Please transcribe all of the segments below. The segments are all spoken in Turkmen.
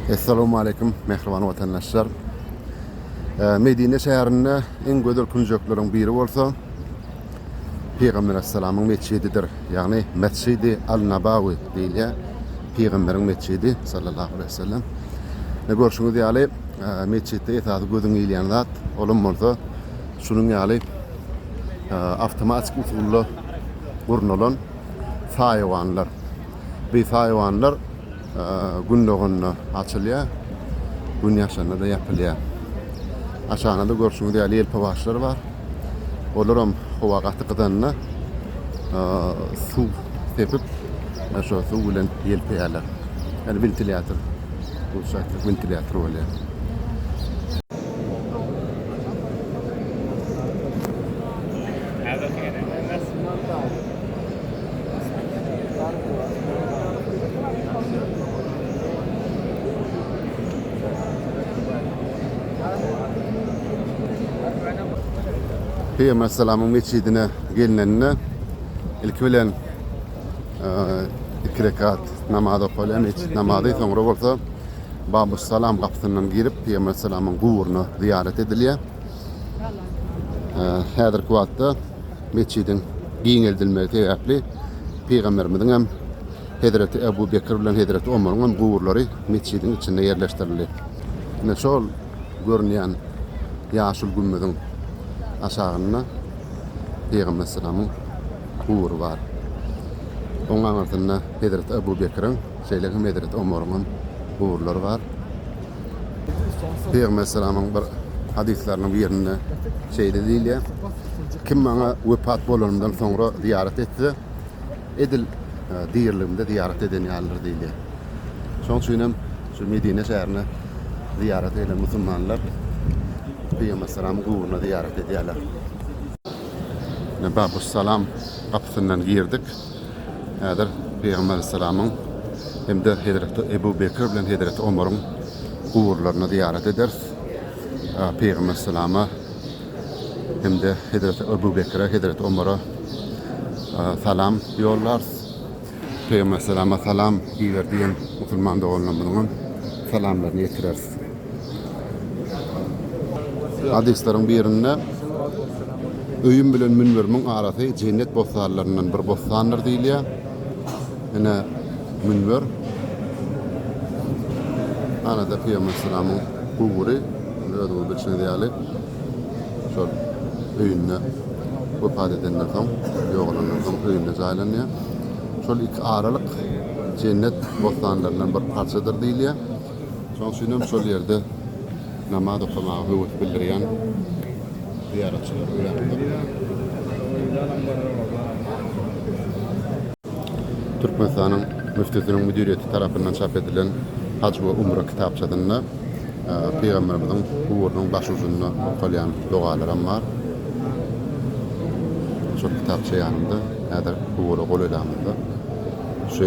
Essalamu aleyküm mehriban watandaşlar. Ee, Medine şäherinde en gözel künjekleriň biri bolsa Peygamber Aleyhisselam'ın mescididir. Yani Mescidi Al-Nabawi diýilýär. Peygamberin mescidi sallallahu aleyhi ve sellem. Ne görşüňiz ýaly, e, mesjitde esasy gözüň ilýän zat, olam bolsa şunuň ýaly e, avtomatik usulda gurnalan saýawanlar. Biz haýwanlar gün doganda açylýar, gün ýaşanda-da ýapylýar. Aşagynda-da görşüňiz ýaly ýelpewaçlar bar. Olar hem howa gaty gyzanda suw sepip, şo suw bilen ýelpeýärler. Ýani wentilýator, rusça aýtsak wentilýator bolýar. Peýgamberaleyhisselamyň metjidine gelinende ilki bilen e, iki rekat namaz okalýar, metjit namazy, soňra bolsa Babus Salam gapysyndan girip Peýgamberaleyhisselamyň guburyna zyýarat edilýär. E, Häzirki wagtda metjidiň giňeldilmegi sebäpli Pygamberimiziň hem Hezreti Ebu Bekir bilen Hezreti Omaryň hem guburlary metjidiň içinde ýerleşdirildi. Ine şol görünýän ýaşyl gümmeziň aşagynda Pygamber salamyň gubury bar. Onuň aňyrsynda Hezreti Ebu Bekiriň, şeýle hem Hezreti Omaryň hem guburlary bar. Pygamber salamyň bir hadyslarynyň birinde şeýle diýilýär, Kim maňa wepat bolanymdan soňra zyýarat etse, edil diriligimde zyýarat eden ýalydyr diýilýär. Şonuň üçin hem şu Medine şäherine zyýarata gelen musulmanlar Pygamber salamyň guburyna zyýarat edýärler. Babus Salam gapysyndan girdik. Häzir Pygamber Aleyhisselamyň hem-de Hezreti Ebu Bekir bilen Hezreti Omaryň guburlaryna zyýarat ederis. Pygamber Aleyhisselama hem-de Hezreti Ebu Bekire, Hezreti Omara salam ýollarys. Pygamber Aleyhisselama salam iber diýen musulman doganlarymyzyň hem salamlaryny ýetireris. Hadyslaryň birinde, Öýüm bilen münberimiň arasy jennet bossanlaryndan bir bossandyr diýilýär. Ine, münber. Ana-da pygamber salamyň gubury, özüňiz bilşiňiz ýaly, şol öýünde wepat edenden soň, ýogalandan soň öýünde jaýlanýar. Şol iki aralyk jennet bossanlaryndan bir parçadyr diýilýär. Şoň üçinem şol ýerde namaz okamaga höwes bildirýän zyýaratçylar örändir. Türkmenistanyň Müftüsiniň müdiriýeti tarapyndan çap edilen Haj we umra kitapçasynda Pygamberimiziň guburynyň başujunda okalýan dogalaram bar. Şol kitapça ýanymda, häzir gubura golaýlamyzda. Şu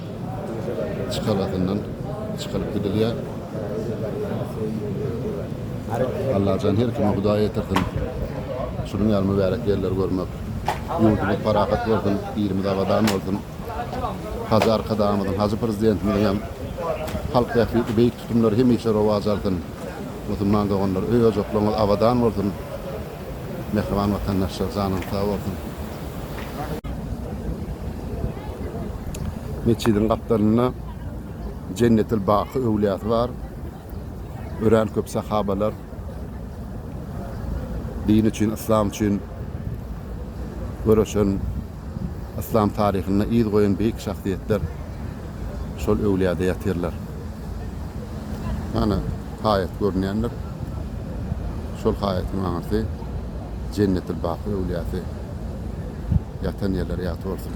çykalgasyndan çykaryp gidilýär. Allajan her kime Hudaý ýetirsin şunuň ýaly mübärek ýerleri görmek. Ýurdumyz parahat bolsun, ilimiz abadan bolsun. Hajy Arkadagymyzyň, Hajy Prezidentimiziň hem halk bähbitli beýik tutumlary hemişe rowaç alsyn. Musulman doganlar, öý-ojaklaryňyz abadan bolsun! Mähriban watandaşlar janyňyz sag bolsun. Metjidiň gapdalynda Jennetil Baky öwlýasy bar. Örän köp sahabalar din üçin, yslam üçin göreşen Yslam taryhynda yz goýan beýik şahsyýetler şol öwlüýäde ýatyrlar. Mana, haýat görünýändir. Şol haýatyň aňyrsy Jennetil-Baky öwlüýäsi ýatan ýerleri ýat bolsun.